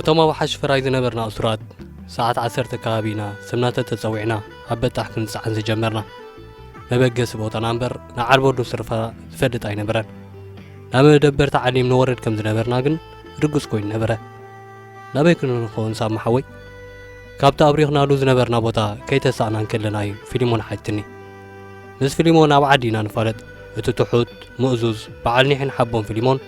እቶም ኣብ ሓሽ ፈራይ ዝነበርና እሱራት ሰዓት ዓሰርተ ከባቢ ኢና ስምናተ ተጸዊዕና ኣብ በጣሕ ክንጸዓን ዝጀመርና መበገሲ ቦታና እምበር ንዓርቦዱ ስርፋ ዝፈልጥ ኣይነበረን ናብ መደበር ተዓሊም ንወረድ ከም ዝነበርና ግን ርግጽ ኮይኑ ነበረ ናበይ ክንንኸውን ሳብ መሓወይ ካብቲ ኣብሪኽናሉ ዝነበርና ቦታ ከይተሳእና እንከለና እዩ ፊልሞን ሓትኒ ምስ ፊልሞን ኣብ ዓዲ ኢና ንፋለጥ እቲ ትሑት ምእዙዝ በዓል ኒሕን ሓቦን ፊልሞን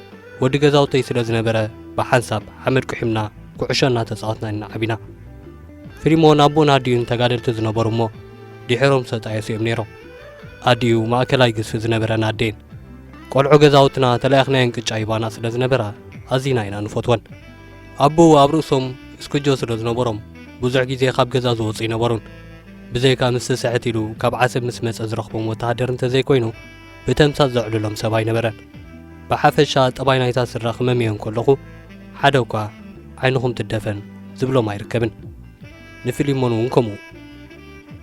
ወዲ ገዛውተይ ስለ ዝነበረ ብሓንሳብ ሓመድ ቁሒምና ኩዕሾ እናተጻወትና ኢና ዓቢና። ፍሊሞን ኣቦን ኣዲኡን ተጋደልቲ ዝነበሩ እሞ ድሒሮም ዝተጣየሱ እዮም ነይሮም። ኣዲኡ ማእከላይ ግዝፊ ዝነበረን ኣዴን። ቆልዑ ገዛውትና ተለኣኽናየን ቅጫ ይባና ስለ ዝነበራ ኣዚና ኢና ንፈትወን። ኣቦኡ ኣብ ርእሶም እስኩጆ ስለ ዝነበሮም ብዙሕ ግዜ ካብ ገዛ ዝወጹ ኣይነበሩን። ብዘይካ ምስ ስስዕት ኢሉ ካብ ዓሰብ ምስ መጸ ዝረኽቦም ወተሃደር እንተ ዘይኮይኑ ብተምሳጥ ዘዕልሎም ሰብ ኣይነበረን። ብሓፈሻ ጠባይ ናይታ ስድራ ክመምዮ እንከለኹ ሓደ እኳ ዓይንኹም ትደፈን ዝብሎም ኣይርከብን። ንፊሊሞን እውን ከምኡ።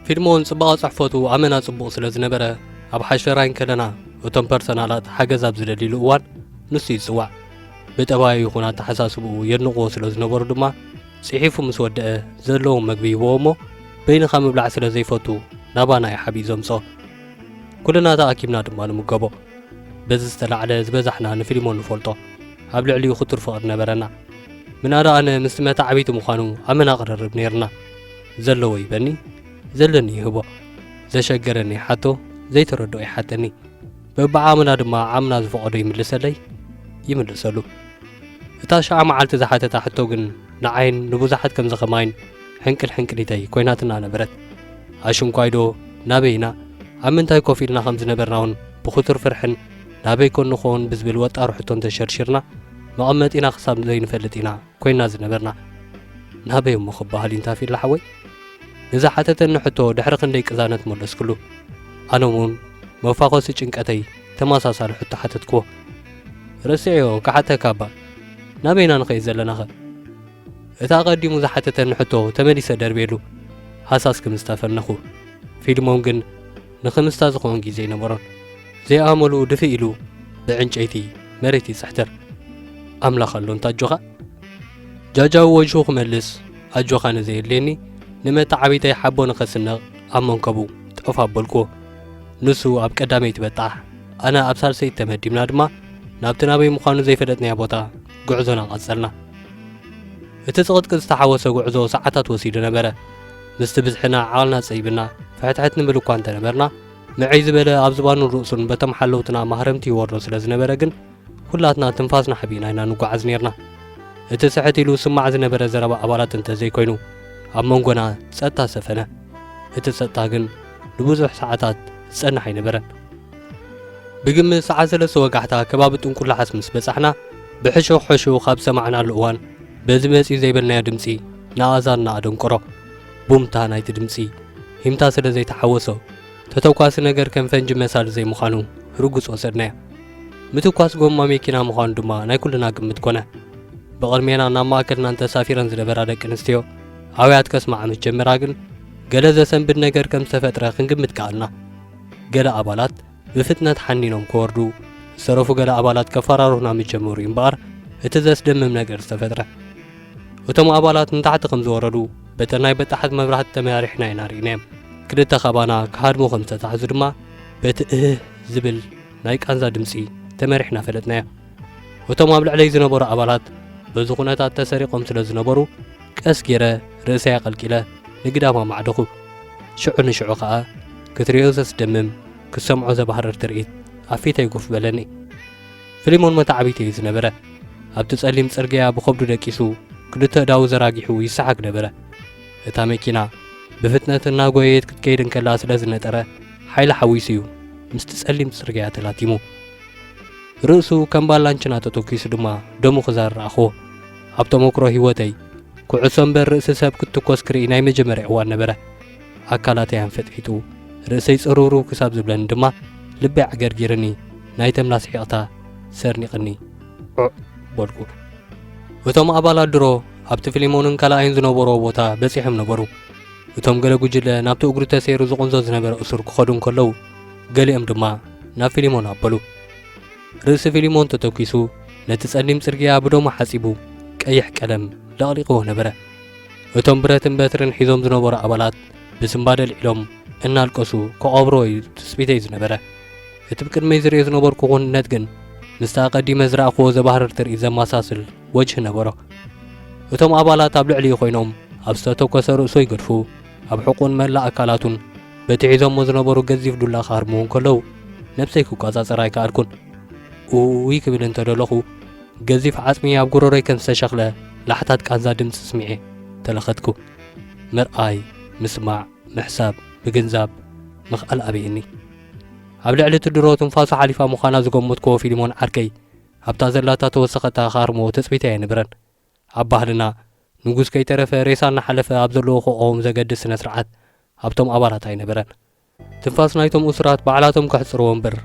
ፊልሞን ጽባቐ ጽሕፈቱ ኣመና ጽቡቕ ስለ ዝነበረ ኣብ ሓሸራይ እንከለና እቶም ፐርሰናላት ሓገዝ ኣብ ዝደልይሉ እዋን ንሱ ይጽዋዕ። ብጠባዩ ይኹን ኣተሓሳስብኡ የድንቕዎ ስለ ዝነበሩ ድማ ጽሒፉ ምስ ወደአ ዘለዎም መግቢ ይህብዎ እሞ በይንኻ ምብላዕ ስለ ዘይፈቱ ናባና እዩ ሓቢእ ዘምጽኦ። ኩልና ተኣኪብና ድማ ንምገቦ። በዚ ዝተላዕለ ዝበዛሕና ንፊሊሞን ንፈልጦ። ኣብ ልዕሊኡ ክቱር ፍቕሪ ነበረና። ምናዳ ኣነ ምስቲ መታዕብይቲ ምዃኑ ኣመና ቅርርብ ነይርና። ዘለዎ ይበኒ፣ ዘለኒ ይህቦ። ዘሸገረኒ ይሓቶ፣ ዘይተረድኦ ይሓተኒ። በብዓቕምና ድማ ዓቕምና ዝፈቐዶ ይምልሰለይ፣ ይምልሰሉ። እታ ሽዓ መዓልቲ ዝሓተታ ሕቶ ግን ንዓይን ንብዙሓት ከምዚ ከማይን፣ ሕንቅል ሕንቅሊተይ ኮይናትና ነበረት። ኣሽንኳይዶ ናበይ ኢና፣ ኣብ ምንታይ ኮፍ ኢልና ከም ዝነበርና'ውን ብኽቱር ፍርሕን ናበይ ኮን ንኸውን ብዝብል ወጣሪ ሕቶን ተሸርሺርና መቐመጢና ክሳብ ዘይንፈልጥ ኢና ኮይንና ዝነበርና። ናበይ እሞ ክበሃል እዩ ንታፊላ ሓወይ? ንዝሓተተኒ ሕቶ ድሕሪ ክንደይ ቅዛነት መለስክሉ። ኣነ'ውን መፋኾሲ ጭንቀተይ ተመሳሳሊ ሕቶ ሓተትክዎ። ረሲዐዮ ክሓተካ'ባ፣ ናበይ ኢና ንኸይድ ዘለናኸ? እቲ ኣቐዲሙ ዝሓተተኒ ሕቶ ተመሊሰ ደርብየሉ ሃሳስ ክምስታ ፈነኹ። ፊልሞን ግን ንክምስታ ዝኸውን ግዜ ኣይነበሮን። ዘይኣመሉ ድፍእ ኢሉ ብዕንጨይቲ መሬት ይጽሕትር። ኣምላኽ ኣሎ እንተ ኣጆኻ? ጃጃዊ ወጅሁ ክመልስ ኣጆኻ ንዘየድልየኒ ንመተዓብይተይ ሓቦ ንኸስንቕ ኣብ መንከቡ ጠፍ ኣበልኩዎ። ንሱ ኣብ ቀዳመይቲ በጣሕ ኣነ ኣብ ሳልሰይቲ ተመዲብና ድማ ናብቲ ናበይ ምዃኑ ዘይፈለጥናዮ ቦታ ጉዕዞና ቀጸልና። እቲ ጽቕጥቅጥ ዝተሓወሶ ጉዕዞ ሰዓታት ወሲዱ ነበረ። ምስቲ ብዝሕና ዓቕልና ጸቢብና ፍሕትሕት ንብል እኳ እንተ ነበርና፣ ምዕይ ዝበለ ኣብ ዝባኑን ርእሱን በቶም ሓለውትና ማህረምቲ ይወርዶ ስለ ዝነበረ ግን ኩላትና ትንፋስና ሓቢእና ኢና ንጓዓዝ ኔርና። እቲ ስሕት ኢሉ ዝስማዕ ዝነበረ ዘረባ ኣባላት እንተ ዘይኮይኑ፣ ኣብ መንጎና ጸጥታ ሰፈነ። እቲ ጸጥታ ግን ንብዙሕ ሰዓታት ዝጸንሕ ኣይነበረን። ብግምት ሰዓት ሰለስተ ወጋሕታ ከባቢ ጥንቁላዓስ ምስ በጻሕና ብሕሹኽ ሕሹኽ ኣብ ዝሰማዕናሉ እዋን በዚ መጺኡ ዘይበልናዮ ድምጺ ንኣእዛንና ኣደንቆሮ። ቡምታ ናይቲ ድምጺ ሂምታ ስለ ዘይተሓወሶ ተተኳሲ ነገር ከም ፈንጂ መሳሊ ዘይምዃኑ ርጉጽ ወሰድናዮ። ምትኳስ ጎማ መኪና ምዃኑ ድማ ናይ ኩልና ግምት ኮነ። ብቕድሜና ናብ ማእከልናን ተሳፊረን ዝነበራ ደቂ ኣንስትዮ ኣውያት ከስምዓ ምስ ጀመራ ግን ገለ ዘሰንብድ ነገር ከም ዝተፈጥረ ክንግምት ከኣልና። ገለ ኣባላት ብፍጥነት ሓኒኖም ክወርዱ፣ ዝተረፉ ገለ ኣባላት ከፈራርሁና ምስ ጀመሩ እዩ እምበኣር እቲ ዘስደምም ነገር ዝተፈጥረ። እቶም ኣባላት ንታሕቲ ከም ዝወረዱ በተን ናይ በጣሕት መብራህቲ ተመራሪሕና ኢና ርኢናዮም። ክልተ ካባና ክሃድሙ ከም ዝተታሕዙ ድማ በቲ እህህ ዝብል ናይ ቃንዛ ድምጺ ተመሪሕና ፈለጥናዮ። እቶም ኣብ ልዕለይ ዝነበሩ ኣባላት በዚ ኩነታት ተሰሪቖም ስለ ዝነበሩ፣ ቀስ ጌረ ርእሰይ ኣቐልቂለ ንግዳም ኣማዕደኹ። ሽዑ ንሽዑ ከኣ ክትርእዮ ዘስደምም ክትሰምዖ ዘባህርር ትርኢት ኣብ ፊተይ ጉፍ በለኒ። ፍሊሞን መታዕቢቲ እዩ ዝነበረ። ኣብቲ ጸሊም ጽርግያ ብኸብዱ ደቂሱ ክልተ እዳዉ ዘራጊሑ ይሰሓግ ነበረ። እታ መኪና ብፍጥነት እናጎየየት ክትከይድ እንከላ ስለ ዝነጠረ ሓይሊ ሓዊሱ እዩ ምስቲ ጸሊም ጽርግያ ተላቲሙ። ርእሱ ከም ባላንችና ተተኪሱ ድማ ደሙ ክዛር ረኣኽዎ። ኣብ ተሞክሮ ህይወተይ ኩዕሶ እምበር ርእሲ ሰብ ክትትኮስ ክርኢ ናይ መጀመርያ እዋን ነበረ። ኣካላተይ ኣንፈጥፊጡ፣ ርእሰይ ጽርውርው ክሳብ ዝብለኒ ድማ ልበይ ኣዕገርጊርኒ፣ ናይ ተምላስ ሒቕታ ሰርኒቕኒ ዑዕ በልኩ። እቶም ኣባላት ድሮ ኣብቲ ፊሊሞንን ካልኣይን ዝነበርዎ ቦታ በጺሖም ነበሩ። እቶም ገለ ጉጅለ ናብቲ እግሩ ተሰይሩ ዝቕንዞ ዝነበረ እሱር ክኸዱ እንከለዉ፣ ገሊኦም ድማ ናብ ፊሊሞን ኣበሉ። ርእሲ ፊሊሞን ተተኲሱ ነቲ ጸሊም ጽርግያ ብደሙ ሓጺቡ ቀይሕ ቀለም ለቕሊቕዎ ነበረ። እቶም ብረትን በትርን ሒዞም ዝነበሩ ኣባላት ብስንባደ ኣልዒሎም እናልቀሱ ክቐብርዎ እዩ ትጽቢተይ ዝነበረ። እቲ ብቅድመይ ዝርእዮ ዝነበርኩ ክውንነት ግን ምስቲ ኣቐዲመ ዝረኣኽዎ ዘባህርር ትርኢት ዘመሳስል ወጅሂ ነበሮ። እቶም ኣባላት ኣብ ልዕሊኡ ኮይኖም ኣብ ዝተተኮሰ ርእሱ ይገድፉ። ኣብ ሕቁን መላእ ኣካላቱን በቲ ሒዞሞ ዝነበሩ ገዚፍ ዱላ ክሃርምዉ እንከለዉ ነብሰይ ክቆጻጸር ኣይከኣልኩን። ኡይ ክብል እንተ ደለኹ ገዚፍ ዓጽሚ ኣብ ጉሮሮይ ከም ዝተሸኽለ ላሕታት ቃንዛ ድምጺ ስሚዔ ተለኸትኩ። ምርኣይ፣ ምስማዕ፣ ምሕሳብ፣ ምግንዛብ ምኽኣል ኣበየኒ። ኣብ ልዕሊ እቲ ድሮ ትንፋሱ ሓሊፋ ምዃና ዝገመትክዎ ፊልሞን ዓርከይ ኣብታ ዘላታ ተወሰኸታ ክሃርምዎ ትጽቢተይ ኣይነበረን። ኣብ ባህልና፣ ንጉስ ከይተረፈ ሬሳ እናሓለፈ ኣብ ዘለዎ ክቖም ዘገድድ ስነ-ስርዓት ኣብቶም ኣባላት ኣይነበረን። ትንፋስ ናይቶም እሱራት ባዕላቶም ከሕጽርዎ እምበር፣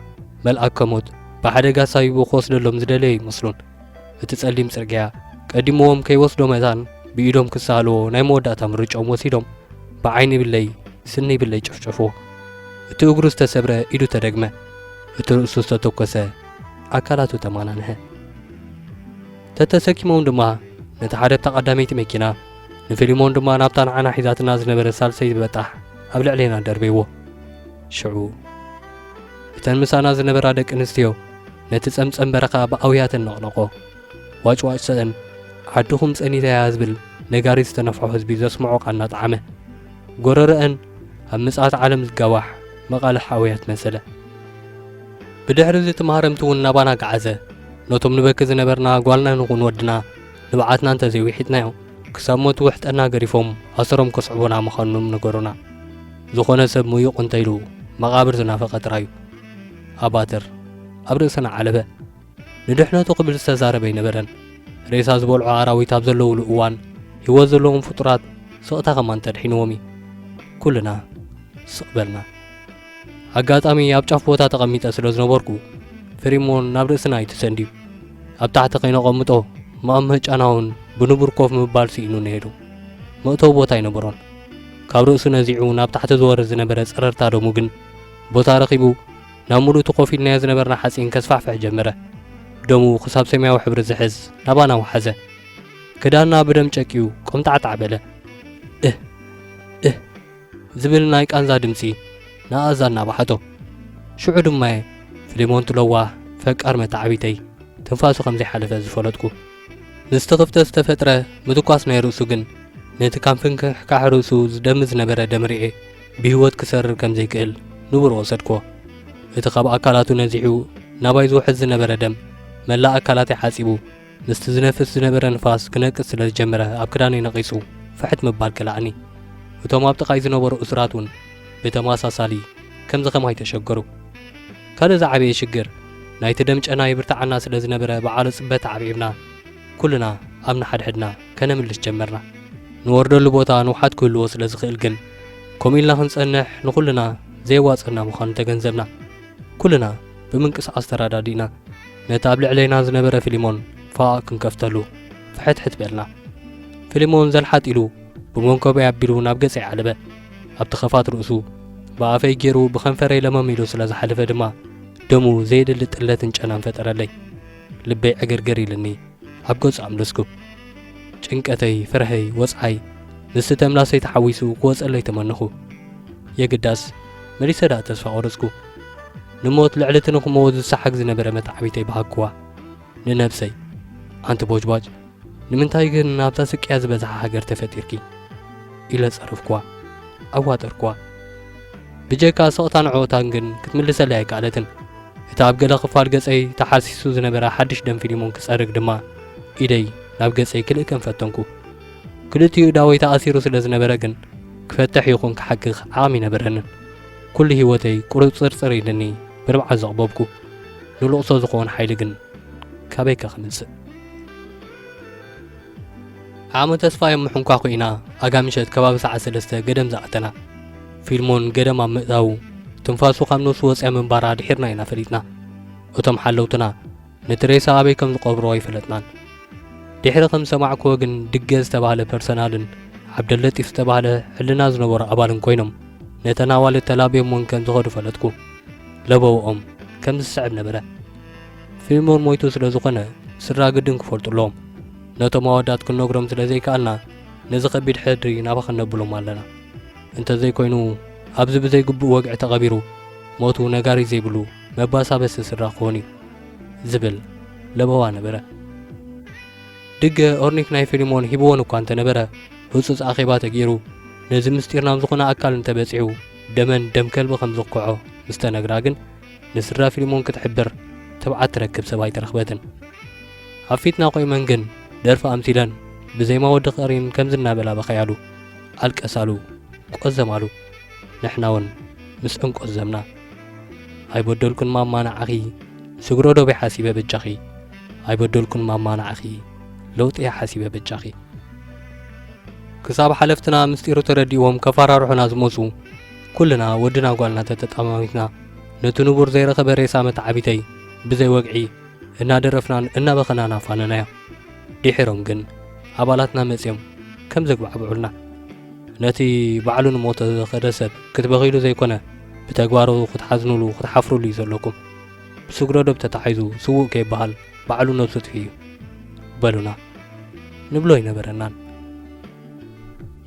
መልኣከ ሞት ብሓደጋ ሳቢቡ ክወስደሎም ዝደለየ ኣይመስሉን። እቲ ጸሊም ጽርግያ ቀዲምዎም ከይወስዶ መታን ብኢዶም ክሰኣልዎ ናይ መወዳእታ ምርጭኦም ወሲዶም ብዓይኒ ይብለይ ስኒ ይብለይ ጨፍጨፍዎ። እቲ እግሩ ዝተሰብረ ኢዱ ተደግመ፣ እቲ ርእሱ ዝተተኮሰ ኣካላቱ ተማናንሐ። ተተሰኪሞም ድማ ነቲ ሓደ ኣብታ ቀዳመይቲ መኪና ንፊሊሞን ድማ ናብታ ንዓና ሒዛትና ዝነበረ ሳልሰይ ዝበጣሕ ኣብ ልዕሌና ደርበይዎ ሽዑ እተን ምሳና ዝነበራ ደቂ ኣንስትዮ ነቲ ጸምጸም በረኻ ብኣውያተን ነቕነቆ ዋጭዋጭ ሰእን ዓድኹም ጸኒተያ ዝብል ነጋሪ ዝተነፍሖ ህዝቢ ዘስምዖ ቃና ጣዕመ ጎረረአን ኣብ ምጽኣት ዓለም ዝጋዋሕ መቓልሕ ኣውያት መሰለ ብድሕሪ እዚ እቲ ማህረምቲ እውን ናባና ገዓዘ ነቶም ንበኪ ዝነበርና ጓልና ንኹን ወድና ንብዓትና እንተ ዘይዊሒጥናዮ ክሳብ ሞት ውሕጠና ገሪፎም ኣሰሮም ከስዕቡና ምኻኖም ነገሩና። ዝኾነ ሰብ ሙዩቕ እንተ ኢሉ መቓብር ዝናፈቐ ጥራይ እዩ። ኣባትር ኣብ ርእስና ዓለበ። ንድሕነቱ ክብል ዝተዛረበ ኣይነበረን። ሬሳ ዝበልዑ ኣራዊት ኣብ ዘለዉሉ እዋን ህይወት ዘለዎም ፍጡራት ስቕታ ከማን ተድሒንዎም እዩ። ኩልና ስቕ በልና። ኣጋጣሚ ኣብ ጫፍ ቦታ ተቐሚጠ ስለ ዝነበርኩ ፍሪሞን ናብ ርእስና እዩ ተሰንድዩ። ኣብ ታሕቲ ከይነቐምጦ መቐምህ ጫናውን ብንቡር ኮፍ ምባል ስኢኑ ነይሩ። መእተዊ ቦታ ኣይነበሮን። ካብ ርእሱ ነዚዑ ናብ ታሕቲ ዝወርድ ዝነበረ ጸረርታ ደሙ ግን ቦታ ረኺቡ ናብ ሙሉእ እቲ ኮፍ ኢልናዮ ዝነበርና ሓጺን ከስፋሕፍሕ ጀመረ። ደሙ ክሳብ ሰማያዊ ሕብሪ ዝሕዝ ናባና ወሓዘ። ክዳንና ብደም ጨቅዩ ቆምጣዕጣዕ በለ። እህ እህ ዝብል ናይ ቃንዛ ድምጺ ንኣእዛንና በሓቶ። ሽዑ ድማ'የ ፍሊሞንት ለዋህ ፈቃር መተዓብይተይ ትንፋሱ ከም ዘይሓለፈ ዝፈለጥኩ። ምስቲ ክፍተት ዝተፈጥረ ምትኳስ ናይ ርእሱ ግን ነቲ ካብ ፍንክሕካሕ ርእሱ ዝደሚ ዝነበረ ደም ርኤ ብህይወት ክሰርር ከም ዘይክእል ንቡር ወሰድክዎ። እቲ ካብ ኣካላቱ ነዚሑ ናባይ ዝውሕዝ ዝነበረ ደም መላእ ኣካላተይ ሓጺቡ ምስቲ ዝነፍስ ዝነበረ ንፋስ ክነቅጽ ስለ ዝጀመረ ኣብ ክዳነይ ነቒጹ ፍሕት ምባል ከልኣኒ። እቶም ኣብ ጥቓይ ዝነበሩ እሱራት እውን ብተመሳሳሊ ከምዚ ከማይ ተሸገሩ። ካልእ ዝዓበየ ሽግር ናይቲ ደም ጨና ይብርትዓና ስለ ዝነበረ ብዓሎ ጽበት ተዓብዒብና ኩልና ኣብ ንሓድሕድና ከነምልስ ጀመርና። ንወርደሉ ቦታ ንውሓት ክህልዎ ስለ ዝኽእል ግን ከምኡ ኢልና ክንጸንሕ ንኹልና ዘየዋጽኣና ምዃኑ ተገንዘብና። ኩልና ብምንቅስቓስ ተረዳዲእና። ነቲ ኣብ ልዕሌና ዝነበረ ፊሊሞን ፎኣ ክንከፍተሉ ፍሕትሕት በልና። ፊሊሞን ዘልሓጥ ኢሉ ብመንኮበይ ኣቢሉ ናብ ገጸይ ዓለበ። ኣብቲ ከፋት ርእሱ ብኣፈይ ጌሩ ብከንፈረይ ለመም ኢሉ ስለ ዝሓለፈ ድማ ደሙ ዘየድሊ ጥለትን ጨናን ፈጠረለይ። ልበይ ዕግርግር ኢልኒ ኣብ ገጹ ኣምለስኩ። ጭንቀተይ፣ ፍርሐይ፣ ወጽዓይ ምስቲ ተምላሰይ ተሓዊሱ ክወጸለይ ተመነኹ። የግዳስ መሊሰ ደኣ ተስፋ ቆረጽኩ። ንሞት ልዕሊ እቲ ንኽመውት ዝሰሓግ ዝነበረ መተዓቢተይ በሃግኩዋ ንነብሰይ። ኣንቲ ቦጅቧጅ፣ ንምንታይ ግን ኣብዛ ስቅያት ዝበዝሓ ሃገር ተፈጢርኪ? ኢለ ጸረፍኩዋ። ኣዋጠርኩዋ። ብጀካ ስቕታን ዕኦታን ግን ክትምልሰለይ ኣይከኣለትን። እቲ ኣብ ገለ ክፋል ገጸይ ተሓርሲሱ ዝነበረ ሓድሽ ደም ፊሊሞን ክጸርግ ድማ ኢደይ ናብ ገጸይ ክልእከም ፈተንኩ። ክልቲኡ እዳወይ ተኣሲሩ ስለ ዝነበረ ግን ክፈትሕ ይኹን ክሓክኽ ዓቕሚ ኣይነበረንን። ኩሉ ህይወተይ ቁርጽርጽር ኢሉኒ ብንብዓት ዘቕበብኩ ንልቕሶ ዝኸውን ሓይሊ ግን ካበይከ ክምጽእ? ዓቕሚ ተስፋዮም ምሕንኳኩ ኢና ኣጋ ምሸት ከባቢ ሰዓት ሰለስተ ገደም ዝኣተና። ፊልሞን ገደም ኣብ ምእታዉ ትንፋሱ ካብ ነብሱ ወጺኣ ምንባራ ድሒርና ኢና ፈሊጥና። እቶም ሓለውትና ነቲ ሬሳ ኣበይ ከም ዝቀብርዎ ኣይፈለጥናን። ዲሕሪ ከም ዝሰማዕክዎ ግን ድገ ዝተባህለ ፐርሰናልን ዓብደለጢፍ ዝተባህለ ሕልና ዝነበሮ ኣባልን ኮይኖም ነተን ኣዋልድ ተላብዮምወን ከም ዝኸዱ ፈለጥኩ። ለበውኦም ከም ዝስዕብ ነበረ። ፊልሞን ሞይቱ ስለ ዝኾነ ስድራ ግድን ክፈልጡ ኣለዎም። ነቶም ኣወዳት ክንነግሮም ስለ ዘይከኣልና ነዚ ከቢድ ሕድሪ ናባኻ ነብሎም ኣለና። እንተዘይኮይኑ ኣብዚ ብዘይግቡእ ወግዒ ተቐቢሩ ሞቱ ነጋሪት ዘይብሉ መባሳበሲ ስድራ ክኾን እዩ ዝብል ለበዋ ነበረ። ድገ ኦርኒክ ናይ ፊልሞን ሂብዎን እኳ እንተነበረ ህጹጽ ኣኼባ ተገይሩ ነዚ ምስጢር ናብ ዝኾነ ኣካል እንተበጺሑ ደመን ደም ከልቢ ከም ዝኩዖ ምስ ተነግራ ግን ንስድራ ፊልሞን ክትሕብር ትብዓት ትረክብ ሰብ ኣይተረኽበትን። ኣብ ፊትና ቆይመን ግን ደርፊ ኣምሲለን ብዜማ ወዲ ቀሪን ከምዚ እናበላ በኸያሉ፣ ኣልቀሳሉ፣ ቆዘማሉ። ንሕናውን ምስ እንቆዘምና ኣይበደልኩን ማማ ንዓኺ ስግሮ ዶብ'የ ሓሲበ በጃኺ ኣይበደልኩን ማማ ንዓኺ ለውጢ'የ ሓሲበ በጃኺ ክሳብ ሓለፍትና ምስጢሩ ተረዲእዎም ከፈራርሑና ዝመጹ ኩልና ወድና ጓልና ተተጠማሚትና ነቲ ንቡር ዘይረኸበ ሬሳ መተዓቢተይ ብዘይ ወግዒ እናደረፍናን እናበኸናን ኣፋነናዮ ድሒሮም ግን ኣባላትና መጽዮም ከም ዘግባዕብዑልና ነቲ ባዕሉ ንሞተ ዝኸደ ሰብ ክትበኺሉ ዘይኮነ ብተግባሩ ክትሓዝኑሉ ክትሓፍሩሉ እዩ ዘለኩም ብስግረዶብ ተታሒዙ ስውእ ከይበሃል ባዕሉ ነብሱ ጥፊ እዩ በሉና ንብሎ ኣይነበረናን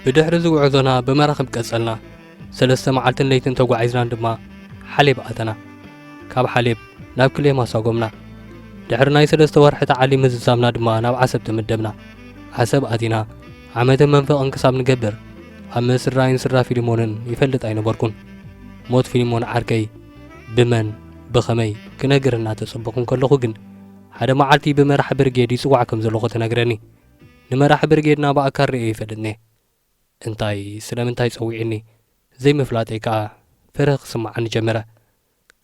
ብድሕሪ ዝጉዕዞና ብመራኽብ ቀጸልና ሰለስተ መዓልትን ለይትን ተጓዒዝናን ድማ ሓሌብ ኣተና ካብ ሓሌብ ናብ ክሌማ ሳጎምና ድሕሪ ናይ ሰለስተ ወርሒ ተዓሊም ምዝዛምና ድማ ናብ ዓሰብ ተመደብና ዓሰብ ኣቲና ዓመትን መንፈቕን ክሳብ ንገብር ኣብ ምስራይን ስድራ ፊልሞንን ይፈልጥ ኣይነበርኩን። ሞት ፊልሞን ዓርከይ ብመን ብኸመይ ክነግር እናተጸበኹ እንከለኹ ግን ሓደ መዓልቲ ብመራሒ ብርጌድ ይጽዋዕ ከም ዘለኹ ተነግረኒ። ንመራሒ ብርጌድና ብኣካል ርእየ ይፈልጥ ኔ። እንታይ ስለምንታይ ጸዊዑኒ ዘይምፍላጠይ ከኣ ፍርህ ክስምዓኒ ጀመረ።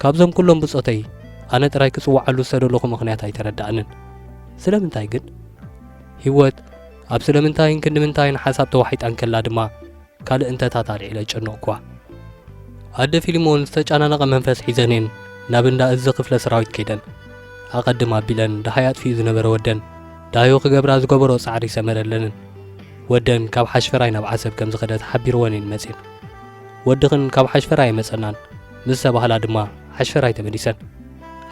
ካብዞም ኩሎም ብጾተይ ኣነ ጥራይ ክጽውዓሉ ዝተደለኹ ምኽንያት ኣይተረድኣንን። ስለምንታይ ግን? ህይወት ኣብ ስለምንታይን ክንድምንታይን ሓሳብ ተዋሒጣ እንከላ ድማ ካልእ እንተታት ኣልዒለ ኣጨነቕኩዋ። ኣደ ፊልሞን ዝተጨናነቐ መንፈስ ሒዘኔን ናብ እንዳ እዚ ክፍለ ሰራዊት ከይደን። ኣቐድም ኣቢለን ደሃይ ኣጥፊኡ ዝነበረ ወደን ዳዮ ክገብራ ዝገበሮ ጻዕሪ ሰመረለንን። ወደን ካብ ሓሽፈራይ ናብ ዓሰብ ከም ዝኸደ ተሓቢርወን እየን መጺን። ወድኽን ካብ ሓሽፈራይ ኣይመጸናን። ምስ ተባህላ ድማ ሓሽፈራይ ተመሊሰን።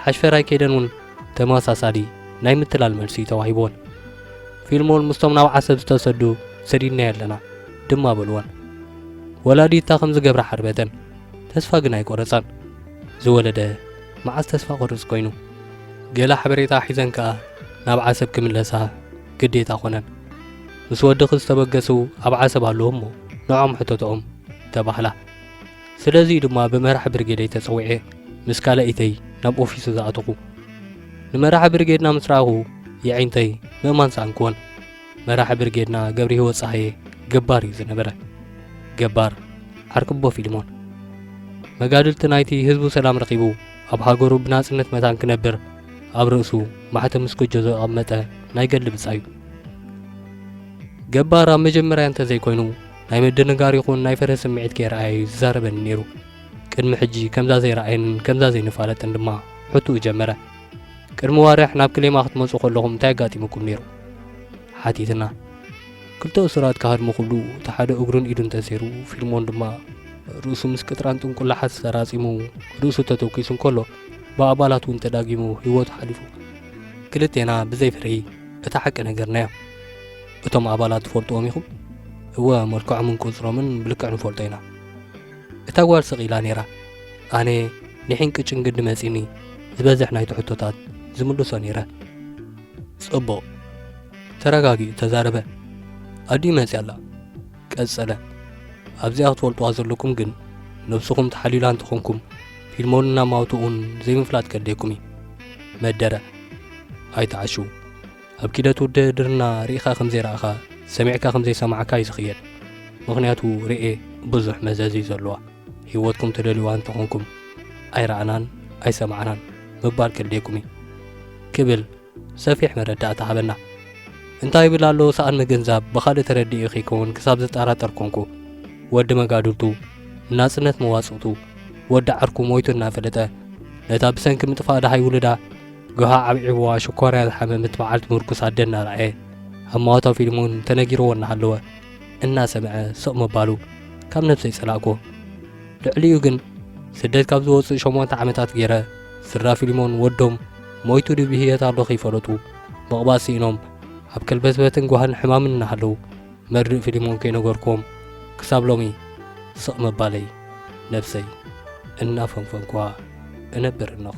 ሓሽፈራይ ከይደን እውን ተመሳሳሊ ናይ ምትላል መልሲ እዩ ተዋሂብወን። ፊልሞን ምስቶም ናብ ዓሰብ ዝተሰዱ ሰዲድናዮ ኣለና ድማ በልወን። ወላዲታ ከም ዝገብራ ሓርበተን፣ ተስፋ ግን ኣይቆረጻን። ዝወለደ መዓስ ተስፋ ቆርጽ ኮይኑ። ገለ ሓበሬታ ሒዘን ከኣ ናብ ዓሰብ ክምለሳ ግዴታ ኮነን። ምስ ወድኺ ዝተበገሱ ኣብ ዓሰብ ኣለዉ እሞ ንዖም ሕተትኦም ተባህላ። ስለዚ'ዩ ድማ ብመራሒ ብርጌደይ ተጸዊዐ ምስ ካልኣይተይ ናብ ኦፊሱ ዝኣተኹ። ንመራሒ ብርጌድና ምስ ረኣኹ የዒንተይ ምእማን ሰኣንክወን። መራሒ ብርጌድና ገብርሂወት ጸሃየ ገባር'ዩ ዝነበረ። ገባር ዓርኪ'ቦ ፊልሞን። መጋድልቲ ናይቲ ህዝቡ ሰላም ረኺቡ ኣብ ሃገሩ ብናጽነት መታን ክነብር ኣብ ርእሱ ማሕተም ምስ ጎጆ ዘቐመጠ ናይ ገድሊ ብጻዩ። ገባር ኣብ መጀመርያ እንተዘይኮይኑ ናይ ምድንጋር ይኹን ናይ ፍርሂ ስምዒት ከይረኣየ እዩ ዝዛረበኒ ነይሩ። ቅድሚ ሕጂ ከምዛ ዘይረኣየንን ከምዛ ዘይንፋለጥን ድማ ሕቱኡ ጀመረ። ቅድሚ ዋርሕ ናብ ክሌማ ክትመጹ ከለኹም እንታይ ኣጋጢሙኩም ነይሩ? ሓቲትና። ክልተ እሱራት ክሃድሙ ክብሉ እቲ ሓደ እግሩን ኢዱን ተሰይሩ፣ ፊልሞን ድማ ርእሱ ምስ ቅጥራን ጥንቁላሓት ዝተራጺሙ ርእሱ ተተኪሱ እንከሎ ብኣባላት እውን ተዳጊሙ ህይወቱ ሓሊፉ። ክልቴና ብዘይ ፍርሂ እታ ሓቂ ነገርናዮ። እቶም ኣባላት ትፈልጥዎም ኢኹም እወ መልክዖምን ቁጽሮምን ብልክዕ ንፈልጦ ኢና እታ ጓል ስቕ ኢላ ነይራ ኣነ ንሒን ቅጭን ግዲ መጺኒ ዝበዝሕ ናይቲ ሕቶታት ዝምልሶ ነይረ ጽቡቕ ተረጋጊኡ ተዛረበ ኣዲኡ መጺ ኣላ ቀጸለ ኣብዚኣ ክትፈልጥዋ ዘለኩም ግን ነብስኹም ተሓሊላ እንተኾንኩም ፊልሞን እናማውትኡን ዘይምፍላጥ ከድልየኩም እዩ መደረ ኣይተዓሽዉ ኣብ ኪደት ውድህድርና ርኢኻ ከም ዘይረኣኻ ሰሚዕካ ከም ዘይሰማዕካ እዩ ዝኽየድ ምኽንያቱ ርኤ ብዙሕ መዘዝ እዩ ዘለዋ ህይወትኩም ትደልዩዋ እንተኾንኩም ኣይረኣናን ኣይሰማዕናን ምባል ከልዴኩም እዩ ክብል ሰፊሕ መረዳእታ ሃበና እንታይ ይብል ኣሎ ሰኣን ምግንዛብ ብኻልእ ተረዲኡ ከይከውን ክሳብ ዝጠራጠር ኮንኩ ወዲ መጋድልቱ ናጽነት መዋጽእቱ ወዲ ዓርኩ ሞይቱ እናፈለጠ ነታ ብሰንኪ ምጥፋእ ደሃይ ውልዳ ገሃ ዓብዒብዋ ሽኮርያ ዝሓመመት በዓልቲ ምርኩስ ኣደ እናረኣየ ኣብ ማዋታ ፊልም እውን እንተነጊርዎ እናሃለወ እናሰምዐ ስቕ ምባሉ ካብ ነብሰይ ጸላእኩ ልዕሊኡ ግን ስደት ካብ ዝወፅእ ሸሞንተ ዓመታት ገይረ ስድራ ፊልሞን ወዶም ሞይቱ ድዩ ብህየት ኣሎ ከይፈለጡ ምቕባል ስኢኖም ኣብ ከልበትበትን ጓህን ሕማምን እናሃለዉ መርድእ ፊልሞን ከይነገርኩም ክሳብ ሎሚ ስቕ ምባለይ ነብሰይ እናፈንፈንኳ እነብር እነኹ